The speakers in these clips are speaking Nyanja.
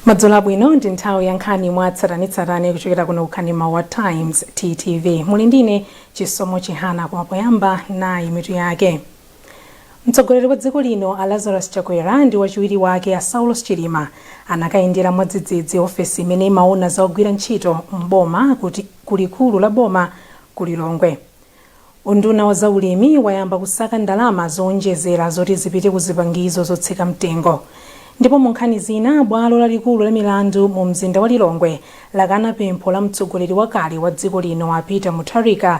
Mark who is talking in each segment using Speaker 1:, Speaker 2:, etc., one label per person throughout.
Speaker 1: madzulo abwino ndi nthawi ya nkhani mwa tsatanetsatane kuchokera kuno ku kanema wa times ttv muli ndine chisomo chihana koma poyamba nayi mitu yake Mtsogoleri wa dziko lino a Lazarus Chakwera ndi wachiwiri wake a Saulos Chilima anakayendera mwadzidzidzi ofesi imene imaona za ogwira ntchito m'boma ku likulu la boma ku Lilongwe. Unduna wa zaulimi wayamba kusaka ndalama zoonjezera zoti zipite ku zipangizo zotsika mtengo. Ndipo mu nkhani zina, bwalo lalikulu la milandu mu mzinda wa Lilongwe lakana pempho la mtsogoleri wakale wa dziko lino a Peter Mutharika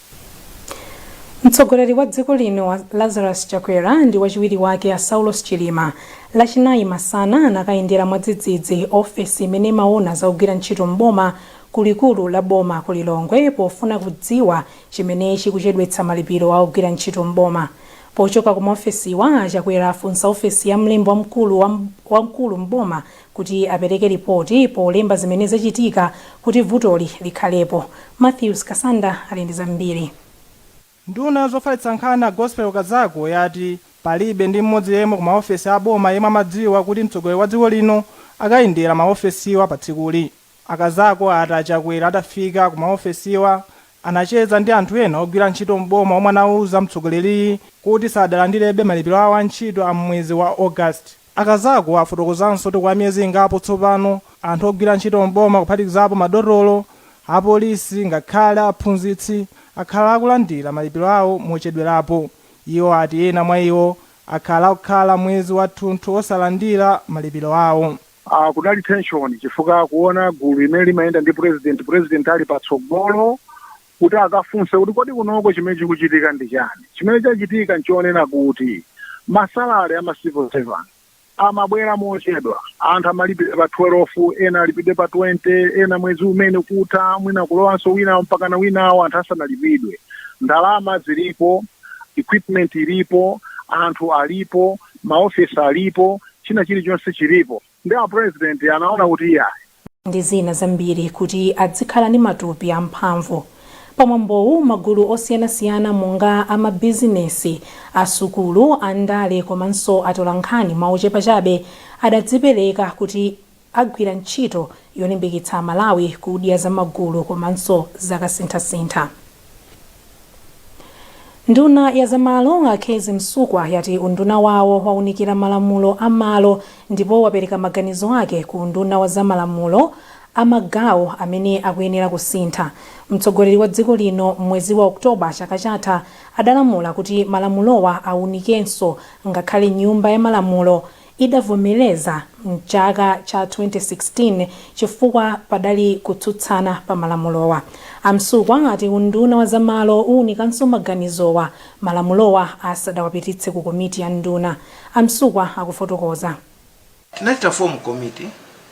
Speaker 1: Mtsogoleri wa dziko lino a Lazarus Chakwera ndi wachiwiri wake a Saulos Chilima Lachinayi masana anakayendera mwadzidzidzi ofesi imene imaona za ogwira ntchito m'boma ku likulu la boma ku Lilongwe pofuna kudziwa chimene chikuchedwetsa malipiro a ogwira ntchito m'boma. Pochoka ku maofesiwa, a Chakwera afunsa ofesi ya mlembi wamkulu m'boma kuti apereke lipoti polemba zimene zachitika kuti vutoli likhalepo. Mathews Kasanda ali ndi zambiri. Nduna
Speaker 2: ya zofalitsa nkhani a Gospel Kazako yati palibe ndi mmodzi yemwe ku maofesi a boma yemwe amadziwa kuti mtsogoleri wa dziko lino akayendera ma ofesiwa pa tsikuli. A Kazako ati a Chakwera atafika ku maofesiwa anacheza ndi anthu ena ogwira ntchito m'boma omwe anauza mtsogoleriyu kuti sadalandirebe malipiro awo a ntchito a m'mwezi wa August. A Kazako afotokozanso kuti kwa miyezi ingapo tsopano, anthu ogwira ntchito m'boma kuphatikizapo madotolo, apolisi ngakhale aphunzitsi akhala akulandira malipiro awo mochedwerapo. Iwo ati ena mwa iwo akhala akukhala mwezi wathunthu osalandira malipiro awo. Kunali tension
Speaker 3: chifukwa kuona gulu limene limayenda ndi pulezidenti, pulezidenti ali patsogolo kuti akafunse kuti kodi kunoko chimene chikuchitika ndi chani. Chimene chachitika nchonena kuti ma salary a ma civil servants amabwera mochedwa. Anthu amalipidwa pa 12, ena alipidwe pa 20, ena mwezi umene kutha mwina kulowanso winawo mpakana winawo anthu asanalipidwe. Ndalama zilipo, equipment ilipo, anthu alipo, ma office alipo, china chilichonse chilipo. Nde a president anaona kuti iyayi. ndi
Speaker 1: zina zambiri kuti adzikhala ndi matupi a mphamvu. Pa mwambowu magulu osiyanasiyana monga a ma bizinesi, a sukulu, a ndale komanso atolankhani mwa ochepa chabe adadzipereka kuti agwira ntchito yolimbikitsa a Malawi kudya za magulu komanso zakasinthasintha. Nduna ya zamalo a Kezzie Msukwa yati unduna wawo waunikira malamulo a malo ndipo wapereka maganizo ake ku unduna wa za malamulo a magawo amene akuyenera kusintha. Mtsogoleri wa dziko lino m'mwezi wa October chaka chatha adalamula kuti malamulowa aunikidwenso ngakhale nyumba ya malamulo idavomereza m'chaka cha 2016 chifukwa padali kutsutsana pa malamulowa. A Msukwa ati unduna wa za malo uwunikanso maganizowa malamulowa asadawapititse ku komiti ya nduna. A Msukwa akufotokoza. Tinachita
Speaker 4: form komiti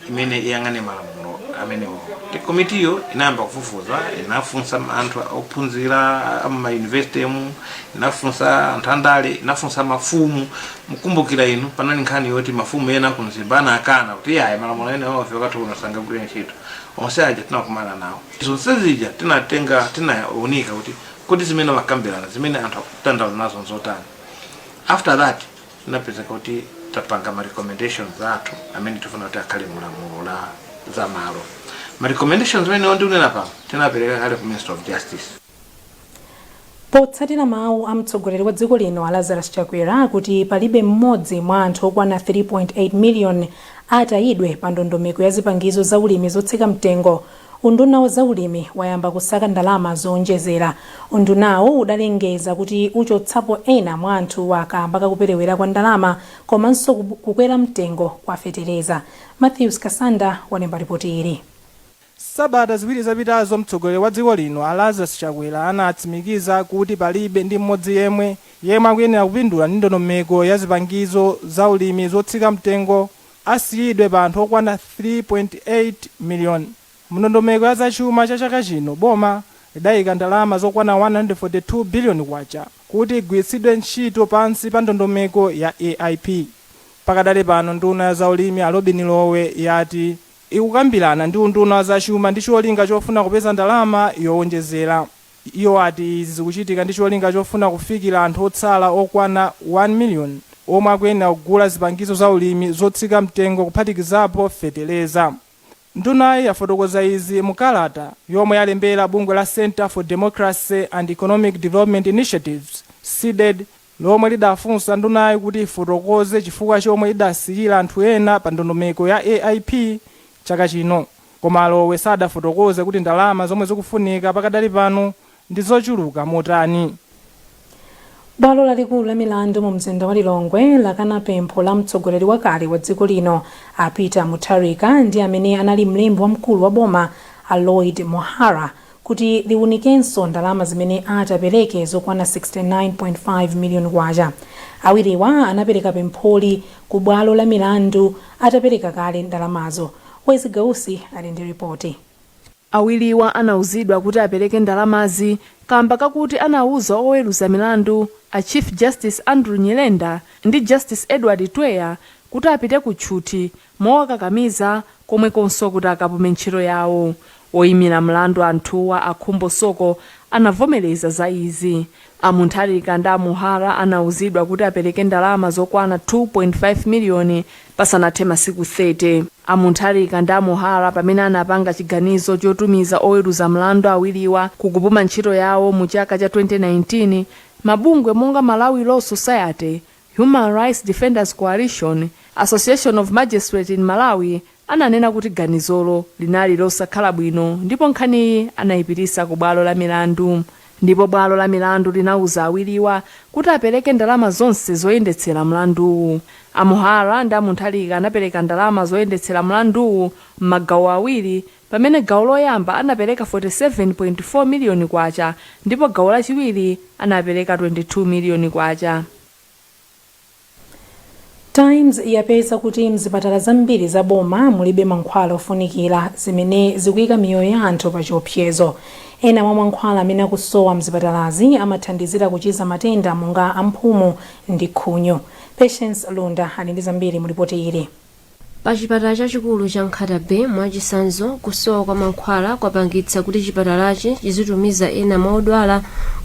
Speaker 4: imene iyang'ane malamulo amenewo Ndi komitiyo inayamba kufufuza inafunsa anthu ophunzira amaunivesite mu inafunsa anthu andale inafunsa mafumu mukumbukira inu panali nkhani yoti mafumu ena ku Mzimba anakana kuti ayi malamulo ena onse wakati uno sangagwire ntchito onse aja tinakumana nawo zonse zija tinatenga tinaunika kuti kodi zimene amakambirana zimene anthu akudandaula nazo nzotani after that Tinapezeka kuti tapanga ma recommendations athu amene tifuna kuti akhale mu lamulo la za malo. Ma recommendations amene ndikunena pano tinapereka kale ku Minister of Justice.
Speaker 1: Potsatira mawu a mtsogoleri wa dziko lino a Lazarus Chakwera kuti palibe mmodzi mwa anthu okwana 3.8 miliyoni atayidwe pa ndondomeko ya zipangizo za ulimi zotsika mtengo, Unduna wa zaulimi wayamba kusaka ndalama zoonjezera. Undunawu udalengeza kuti uchotsapo ena mwa anthuwa kaamba ka kuperewera kwa ndalama komanso kukwera mtengo kwa fetereza. Mathews Kasanda walemba lipoti ili. Sabata
Speaker 2: ziwiri zapitazo mtsogoleri wa dziko lino a Lazarus Chakwera anatsimikiza kuti palibe ndi mmodzi yemwe yemwe akuyenera kupindula ndi ndondomeko ya zipangizo za ulimi zotsika mtengo asiyidwe pa anthu okwana 3.8 million. Mundondomeko ya zachuma cha chaka chino boma lidayika ndalama zokwana K142 billion kuti igwiritsidwe ntchito pansi pa ndondomeko ya AIP. Pakadali pano nduna ya zaulimi a Lobin Lowe yati ikukambirana ndi unduna wa zachuma ndi cholinga chofuna kupeza ndalama yowonjezera. Iwo ati izi zikuchitika ndi cholinga chofuna kufikira anthu otsala okwana 1 million omwe akuyenera kugula zipangizo za ulimi zotsika mtengo kuphatikizapo feteleza. Ndunayi yafotokoza izi mu kalata yomwe yalembera bungwe la Centre for Democracy and Economic Development Initiatives, Cdedi, lomwe lidafunsa ndunayi kuti ifotokoze chifukwa chomwe idasiyira anthu ena pa ndondomeko ya AIP chaka chino koma a Lowe sadafotokoze kuti ndalama zomwe zikufunika pakadali pano ndi zochuluka motani.
Speaker 1: Bwalo lalikulu la milandu mu mzinda wa Lilongwe lakana pempho la mtsogoleri wakale wa dziko lino a Peter Mutharika ndi amene anali mlembi wamkulu wa boma a Lloyd Muhara kuti liwunikenso ndalama zimene atapereke zokwana K69.5 miliyoni. Awiriwa anapereka pempholi ku bwalo la milandu atapereka kale ndalamazo. Wezi Gausi ali ndi ripoti.
Speaker 5: Awiriwa anauzidwa kuti apereke ndalamazi kaamba kakuti anauza oweruza milandu a Chief Justice Andrew Nyirenda ndi Justice Edward Twea kuti apite ku tchuthi mowakakamiza komanso kuti akapume ntchito yawo. Oyimira mlandu anthuwa a Khumbo Soko anavomereza za izi. A Muntharika ndi a Muhara anauzidwa kuti apereke ndalama zokwana 69.5 miliyoni pasanathe masiku 30. A Muntharika ndi a Muhara pamene anapanga chiganizo chotumiza oweruza mlandu awiriwa ku kupuma ntchito yawo mu chaka cha 2019, mabungwe monga Malawi Law Society Human Rights Defenders Coalition, Association of Magistrates in Malawi ananena kuti ganizolo linali losakhala bwino ndipo nkhaniyi anaipitisa ku bwalo la milandu ndipo bwalo la milandu linauza awiriwa kuti apereke ndalama zonse zoyendetsera mlanduwu. A Muhara ndi a Muntharika anapereka ndalama zoyendetsera mlanduwu m'magawo awiri pamene gawo loyamba anapereka K47.4 miliyoni ndipo gawo lachiwiri anapereka K22 miliyoni.
Speaker 1: Times yapeza kuti m'zipatala zambiri za boma mulibe mankhwala ofunikira, zimene zikuika miyoyo ya anthu pachiopsezo. Ena mwa mankhwala amene akusowa m'zipatalazi amathandizira kuchiza matenda monga a mphumu ndi khunyu. Patience Lunda ali ndi zambiri mu lipoti ili. pa
Speaker 6: chipatala chachikulu cha nkhata bay mwachisanzo kusowa kwa mankhwala kwapangitsa kuti chipatalachi chizitumiza ena mwa odwala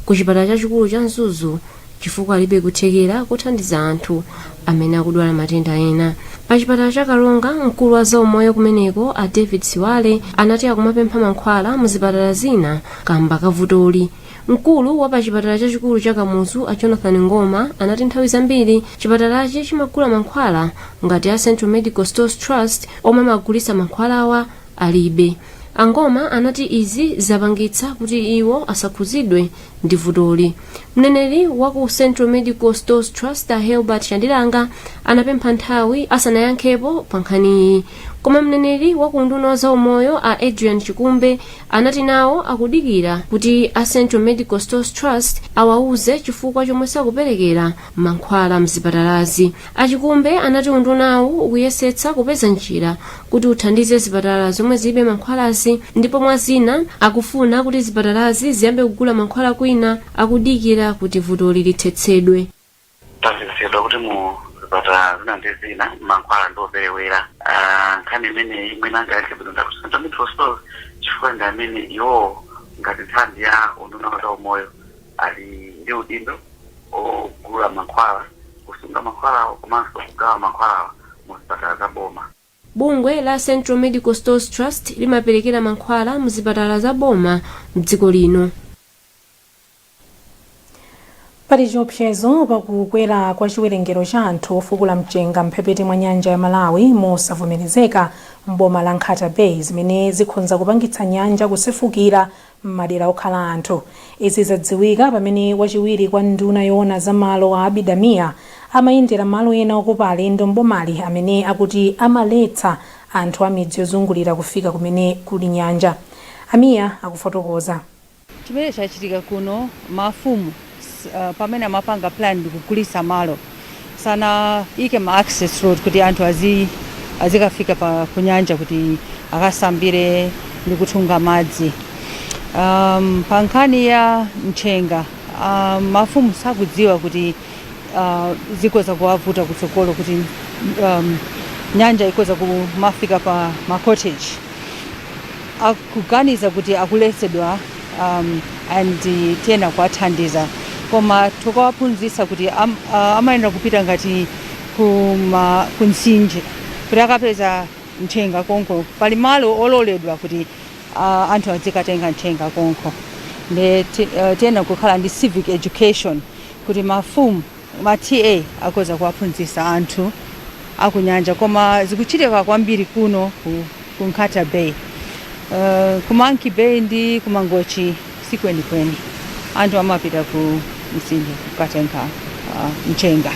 Speaker 6: ku chipatala chachikulu cha mzuzu chifukwa alibe kuthekera kothandiza anthu amene akudwala matenda ena pa chipatala cha karonga mkulu wa zaumoyo kumeneko a david siwale anati akumapempha mankhwala mu zipatala zina kamba ka vutoli Mkulu wa pa chipatala chachikulu cha Kamuzu a Jonathan Ngoma anati nthawi zambiri chipatalachi chimagula mankhwala ngati a Central Medical Stores Trust omwe amagulitsa mankhwalawa alibe. A Ngoma anati izi zapangitsa kuti iwo asakhuzidwe ndi vutoli. Mneneri wa ku Central Medical Stores Trust a Herbert Chandilanga anapempha nthawi asanayankhepo pa nkhaniyi. Koma mneneri wa ku unduna wa zaumoyo a Adrian Chikumbe anati nawo akudikira kuti a central medical stores trust awauze chifukwa chomwe sakuperekera mankhwala mzipatalazi a chikumbe anati undunawu ukuyesetsa kupeza njira kuti uthandize zipatala zomwe zilibe mankhwalazi ndipo mwa zina akufuna kuti zipatalazi ziyambe kugula mankhwala kwina akudikira kuti vutoli lithetsedwe
Speaker 7: Tazindikira kuti mu zipatala zina ndi zina mankhwala ndi operewera. Ah, nkhani imeneyi mwina angayankhe bwino nda ku Central Medical Stores chifukwa ndi amene iwowo ngati nthambi ya unduna wa zaumoyo ali ndi udindo ogula mankhwala, kusunga mankhwalawo komanso kugawa mankhwalawa mu zipatala za boma. Bungwe la
Speaker 6: Central Medical Stores Trust limaperekera mankhwala mzipatala za boma mdziko lino.
Speaker 1: Pali chiopsezo pa kukwera kwa chiwerengero cha anthu ofukula mchenga m'mphepete mwa nyanja ya Malawi mosavomerezeka m'boma la Nkhata Bay zimene zikhonza kupangitsa nyanja kusefukira m'madera okhala anthu. Izi zadziwika pamene wachiwiri kwa nduna yoona za malo a Abida Mia amayendera malo ena okopa alendo m'bomali amene akuti amaletsa anthu a midzi yozungulira kufika kumene kuli nyanja. A Mia akufotokoza. Chimene
Speaker 8: chachitika kuno, mafumu. S- uh, pamene amapanga plan ndikugulisa malo sanaike ma access road kuti anthu azi azikafika pa kunyanja kuti akasambire ndi kutunga madzi um, pa nkhani ya mchenga um, mafumu sakudziwa kuti uh, zikhoza kuwavuta kutsogolo kuti um, nyanja ikhoza kumafika pa ma cottage akuganiza kuti akuletsedwa um, and tiyena kuwathandiza koma tokawaphunzisa kuti am, uh, amayenera kupita ngati kuma kumtsinje kuti akapeze mchenga konko pali malo ololedwa kuti uh, anthu adzikatenga mchenga konko nde ti- uh, tiyena kukhala ndi civic education kuti mafumu Ma TA akhoza kuwaphunzisa anthu akunyanja koma zikuchitika kwambiri kuno ku, ku Nkhata Bay. Uh, ku Monkey Bay ndi ku Mangochi sikwenikweni anthu amapita ku mtsinje kukatenga uh, mchenga.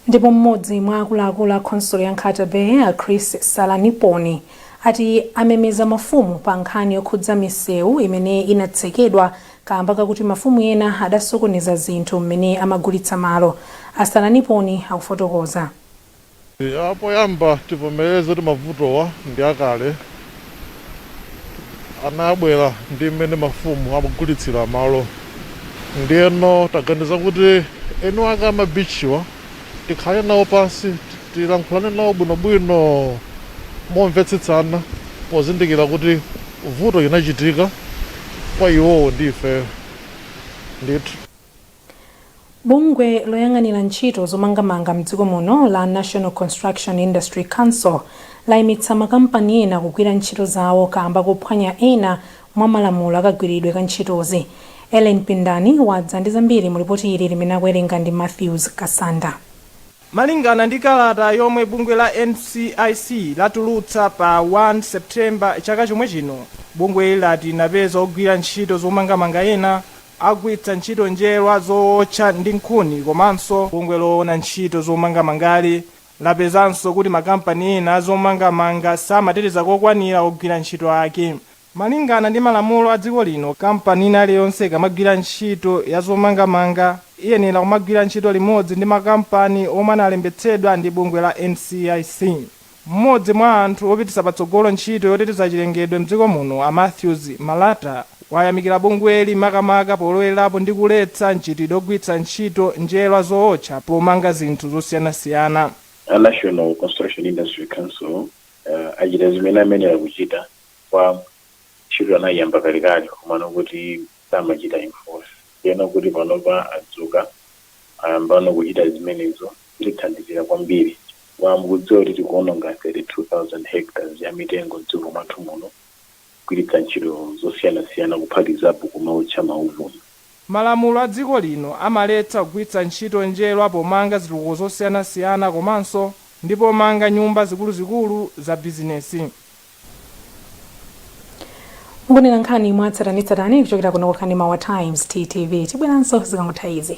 Speaker 1: Ndipo mmodzi mwa akuluakulu a khonsolo ya Nkhata Bay a Chris Salaniponi ati amemeza mafumu pa nkhani yokhudza misewu imene inatsekedwa kaamba kakuti mafumu ena adasokoneza zinthu mmene amagulitsa malo. A Salaniponi akufotokoza.
Speaker 9: Ya, poyamba tivomereze kuti mavutowa ndi akale. Anabwera ndi mmene mafumu amagulitsira malo. Ndiyeno taganiza kuti eni wake a ma beach'wa tikhale nawo pansi tilankhulane nawo bwinobwino momvetsetsana pozindikira kuti. Vuto linachitika kwa iwowo ndi ifeyo ndithu. Bungwe
Speaker 1: loyang'anira ntchito zomangamanga mdziko muno la National Construction Industry Council laimitsa makampani ena kugwira ntchito zawo kaamba kophwanya ena mwa malamulo akagwiridwe ka ntchitozi. Ellen Pindani wadza ndi zambiri mu lipoti ili limene akuwerenga ndi Mathews Kasanda. Malingana
Speaker 2: ndi kalata yomwe bungwe la NCIC latulutsa pa 1 September chaka chomwe chino, bungweli lati linapeza ogwira ntchito zomangamanga ena akugwiritsa ntchito njerwa zowotcha ndi nkhuni komanso bungwe loona ntchito zomangamangali lapezanso kuti makampani ena a zomangamanga samateteza kokwanira ogwira ntchito ake. Malingana ndi malamulo a dziko lino, kampani ina iliyonse ikamagwira ntchito ya zomangamanga iyenela kumagwira ntchito limodzi ndi makampani omwe analembetsedwa ndi bungwe la NCIC. M'modzi mwa anthu opititsa patsogolo ntchito yoteteza chilengedwe mdziko muno a Mathews Malata wayamikila bungweli makamaka polowelelapo ndi kuletsa mchitidwe ogwiritsa ntchito njerwa zootcha pomanga zinthu zosiyanasiyana. A National
Speaker 10: Construction Industry Council achita zimene amayenela kuchita koma ntchito anaiyamba kalekale komano kuti samachita enforce ndeno kuti panopa adzuka ayambano kuchita zimenezo zitithandizira kwambiri chifukwa mukudziwa kuti tikuononga 32000 hectares ya mitengo mdziko mwathu muno kugwiritsa ntchito zosiyanasiyana kuphatikizapo kumaotcha mauvuni. Malamulo
Speaker 2: a dziko lino amaletsa kugwiritsa ntchito njerwa pomanga zitukuko zosiyanasiyana komanso ndi pomanga nyumba zikuluzikulu za bizinesi.
Speaker 1: Mukuonera nkhani mwatsatanetsatane kuchokera kuno ku Kanema wa Times, TTV. Tibweranso zikangotha izi.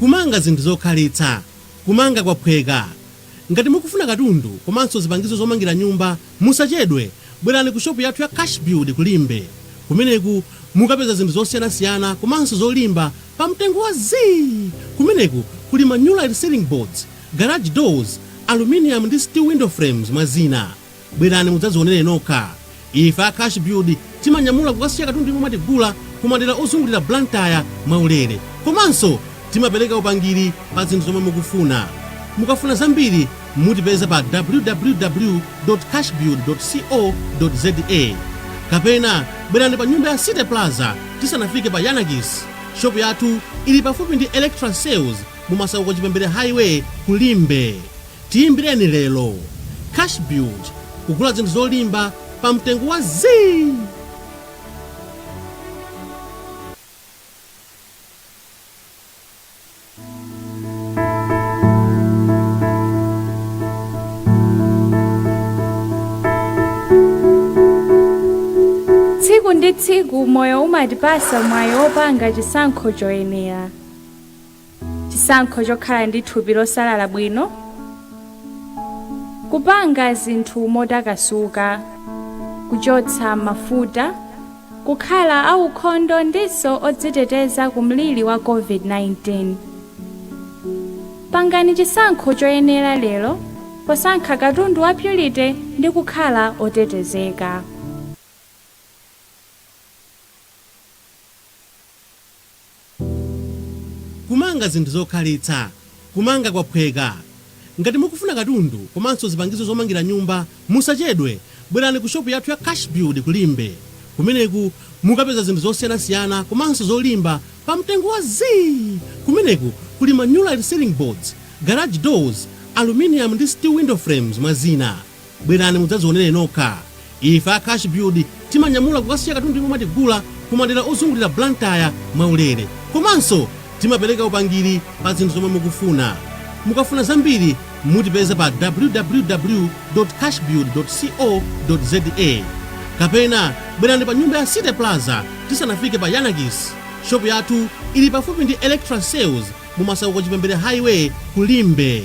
Speaker 11: Kumanga zinthu zokhalitsa, Kumanga kwaphweka. Ngati mukufuna katundu komanso zipangizo zomangira nyumba, musachedwe, bwerani ku shopu yathu ya Cash Build ku Limbe. Kumeneku mukapeza zinthu zosiyanasiyana komanso zolimba pa mtengo wa zii! Kumeneku kuli ma Nulite Ceiling Boards, Garage Doors, Aluminium ndi Steel Window Frames mwa zina. Bwerani mudzadzionere nokha. Ife a Cash Build timanyamula kukasiya katundu yemwe mwatigulira ku madera ozungulira Blantyre mwaulere. Komanso timapereka upangiri pa zinthu zomwe mukufuna. Mukafuna zambiri mutipeza pa www.cashbuild.co.za kapena bwerani pa nyumba ya City Plaza tisanafike pa Yiannakis. Shopu yathu ili pafupi ndi Electra Sales mu Masauko Chipembere Highway ku Limbe. Tiyimbireni lero. Cashbuild kugula zinthu zolimba pa mtengo wa
Speaker 12: zii! Tsiku ndi tsiku moyo umatipatsa mwayi opanga chisankho choyenera. chisankho chokhala ndi thupi losalala bwino, kupanga zinthu motakasuka, kuchotsa mafuta, kukhala aukhondo ndinso odziteteza ku mliri wa COVID-19. Pangani chisankho choyenera lero posankha katundu wa Purity ndi kukhala otetezeka.
Speaker 11: Kumanga zinthu zokhalitsa. Kumanga kwaphweka. Ngati mukufuna katundu komanso zipangizo zomangira nyumba, musachedwe, bwerani ku shopu yathu ya Cashbuild ku Limbe. Kumeneku mukapeza zinthu zosiyanasiyana komanso zolimba pa mtengo wa zii! Kumeneku kuli ma New Light Ceiling Boards, Garage Doors, Aluminium ndi Steel Window Frames, mwa zina. Bwerani mudzazionere nokha. Ife a Cashbuild timanyamula kukasiya katundu yemwe mwatigula ku madera ozungulira Blantyre mwaulere. Komanso timapereka upangiri pa zinthu zomwe mukufuna. Mukafuna zambiri mutipeza pa www.cashbuild.co.za kapena bwerani pa nyumba ya City Plaza tisanafike pa Yanakis. Shopu yathu ili pafupi ndi Electra Sales mu Masauko Chipembere Highway ku Limbe.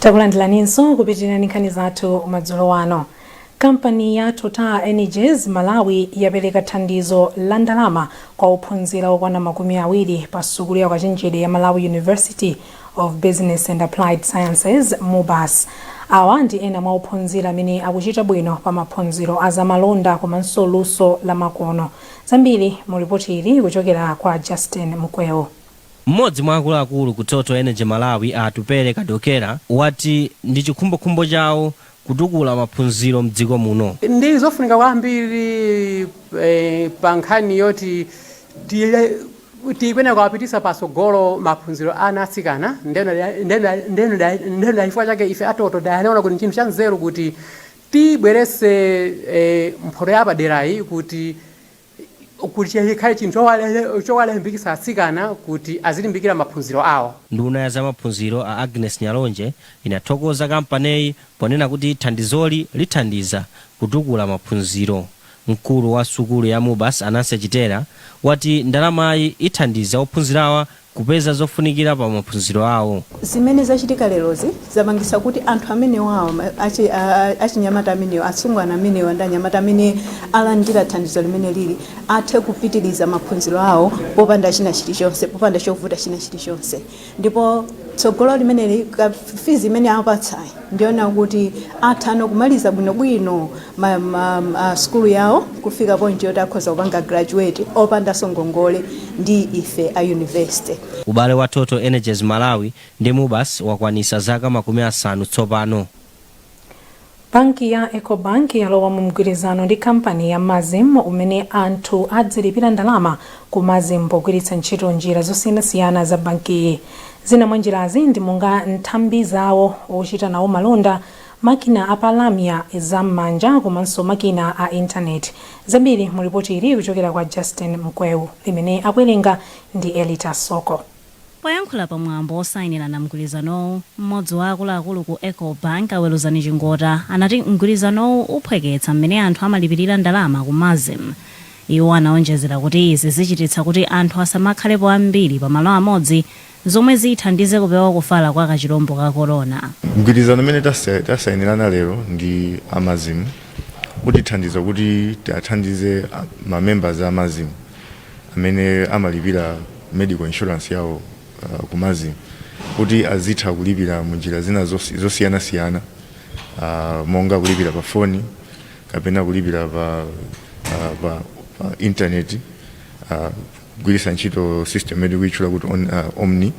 Speaker 1: takulandilaninso kupitiriza nkhani zathu madzulo wano kampani ya total energies malawi yapereka thandizo la ndalama kwa ophunzira okwana makumi awiri pa sukulu ya ukachenjede ya malawi university of Business and Applied Sciences, MUBAS. Awa ndi ena mwa ophunzira amene akuchita bwino pa maphunziro a zamalonda komanso luso la makono. Zambiri mu lipoti ili kuchokera kwa Justin Mkweu. M'modzi mwa
Speaker 13: akuluakulu ku Total Energy Malawi a Atupele Kadokera wati ndi chikhumbokhumbo chawo kutukula maphunziro mdziko muno. Ndi
Speaker 14: zofunika kwambiri pa nkhani yoti tikuyenera kuwapititsa patsogolo maphunziro a ana atsikana nde ndachifukwa chake ife a Total tinaona kuti nchinthu cha nzeru kuti tibweretse mphoto yapaderayi kuti. kuti chikhale chinthu chowalimbikitsa atsikana kuti azilimbikira maphunziro awo. Nduna ya zamaphunziro
Speaker 13: a Agnes Nyalonje inathokoza kampaniyi ponena kuti thandizoli lithandiza kutukula maphunziro. Mkulu wa sukulu ya Mubas a Nancy Chitera wati ndalamayi ithandiza ophunzirawa kupeza zofunikira pa maphunziro awo. Zimene
Speaker 15: zachitika lerozi zapangitsa kuti anthu amenewawa, ma- achi- a- a- achinyamata amenewa, atsungwana amenewa ndi anyamata amene alandira thandizo limeneli athe kupitiriza maphunziro awo popanda china chilichonse, popanda chovuta china chilichonse. Ndipo tsogolo limeneli, ka fizi imene apatsayi Ndikuona kuti atha no kumaliza bwino bwino ma, ma, ma sukulu yawo kufika point yoti akhoza kupanga graduate opandanso ngongole ndi ife a university. Ubale wa Total
Speaker 13: Energies Malawi ndi Mubas wakwanitsa zaka makumi asanu
Speaker 1: tsopano. Banki ya Ecobank yalowa mu mgwirizano ndi kampani ya Masm umene anthu adzilipira ndalama ku Masm pogwiritsa ntchito njira zosiyanasiyana za bankiyi. Zina mwa njirazi ndi monga nthambi zawo, ochita nawo malonda, makina a pa lamya za m'manja komanso makina a intaneti. Zambiri mu ripoti ili kuchokera kwa Justin Mkweu limene akuwerenga ndi Elita Soko. Poyankhula
Speaker 16: pa mwambo wosayinirana mgwirizanowu, m'modzi wa akuluakulu ku Ecobank, a Weluzani Chingota, anati mgwirizanowu uphweketsa m'mene anthu amalipirira ndalama ku Masm. Iwo anaonjezera kuti izi zichititsa kuti anthu asamakhalepo ambiri pa malo amodzi zomwe zithandize kupewa kufala kwa kachilombo ka corona. Mgwirizano umene
Speaker 17: tasainirana lero ndi a Masm utithandiza kuti tiwathandize ma members a Masm amene amalipira medical insurance yawo ku Masm kuti azitha kulipira munjira zina zosiyanasiyana monga kulipira pa foni kapena kulipira pa, uh, pa, pa internet uh, kugwiritsa ntchito system imene tikuitchula kuti on, uh, omni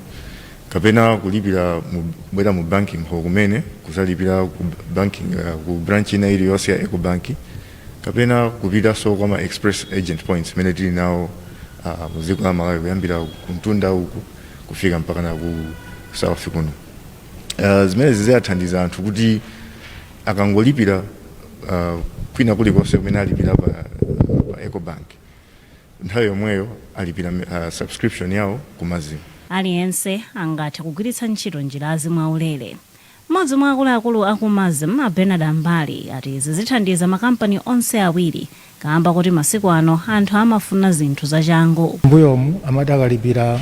Speaker 17: kapena kulipira kubwera mu banking hall kumene kuzalipira ku banking uh, ku branch ina iliyonse ya Ecobank kapena kupitanso kwa ma express agent points imene tili nawo uh, mu dziko la Malawi kuyambira kumtunda uku kufika mpakana ku south kuno uh, zimene zizathandiza anthu kuti Akangolipira kwina kulikonse kumene alipira pa Ecobank, nthawi yomweyo alipira subscription yawo ku Masm.
Speaker 16: Aliyense angathe kugwiritsa ntchito njirazi mwaulere. M'modzi mwa akuluakulu a ku Masm, a Bernard Ambali, ati izi zithandiza makampani onse awiri kaamba koti masiku ano anthu amafuna zinthu zachangu. M'mbuyomu
Speaker 18: amati akalipira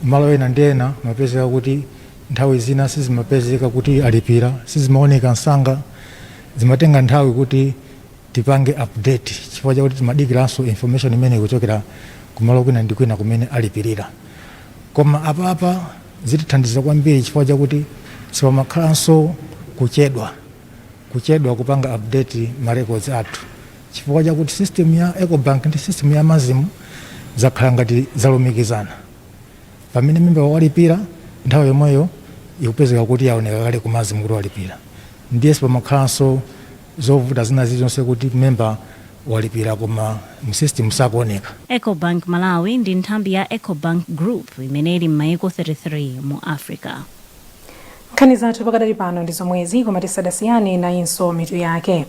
Speaker 18: malo ena ndi ena amapezeka kuti nthawi zina sizimapezeka kuti alipira, sizimaoneka msanga, zimatenga nthawi kuti tipange update chifukwa chakuti timadikiranso information imene ikuchokera kumalo kwina ndi kwina kumene alipirira. Koma apapa zitithandiza kwambiri chifukwa chakuti sipamakhalanso kuchedwa. kuchedwa kupanga update ma records athu chifukwa chakuti system ya Ecobank ndi system ya MASM zakhala ngati zalumikizana. Pamene member walipira nthawi yomweyo ikupezeka kuti yaoneka kale ku MASM kuti walipira. Ndiye sipamakhalanso zovuta zina zilizonse kuti member walipira koma mu system sakuoneka. Ecobank Malawi
Speaker 16: ndi nthambi ya Ecobank Group imene ili m'mayiko 33 mu Africa.
Speaker 1: nkhani zathu pakadali pano ndi zomwezi koma tisadasiyane nayinso mitu yake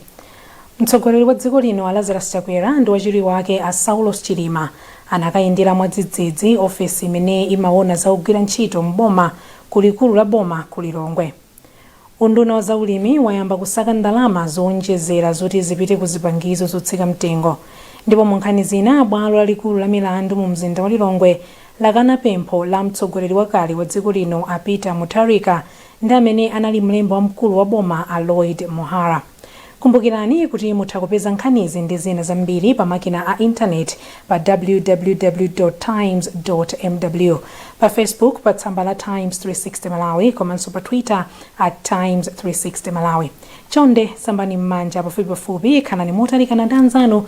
Speaker 1: mtsogoleri wa dziko lino a lazarus chakwera ndi wachiwiri wake a saulos chilima anakayendera mwadzidzidzi ofesi imene imaona za ogwira ntchito m'boma ku likulu la boma ku lilongwe unduna wa zaulimi wayamba kusaka ndalama zowonjezera zoti zipite ku zipangizo zotsika mtengo ndipo mu nkhani zina bwalo lalikulu la milandu mu mzinda wa lilongwe lakana pempho la mtsogoleri wakale wa dziko lino a Peter Mutharika ndi amene anali mlembi wamkulu wa boma a Lloyd Muhara. Kumbukirani kuti mutha kupeza nkhanizi ndi zina zambiri pa makina a internet pa www. Times. Mw. Pa Facebook pa tsamba la Times 360 Malawi komanso pa Twitter at Times 360 Malawi. Chonde sambani mmanja pafupipafupi, khalani motalikana ndi anzanu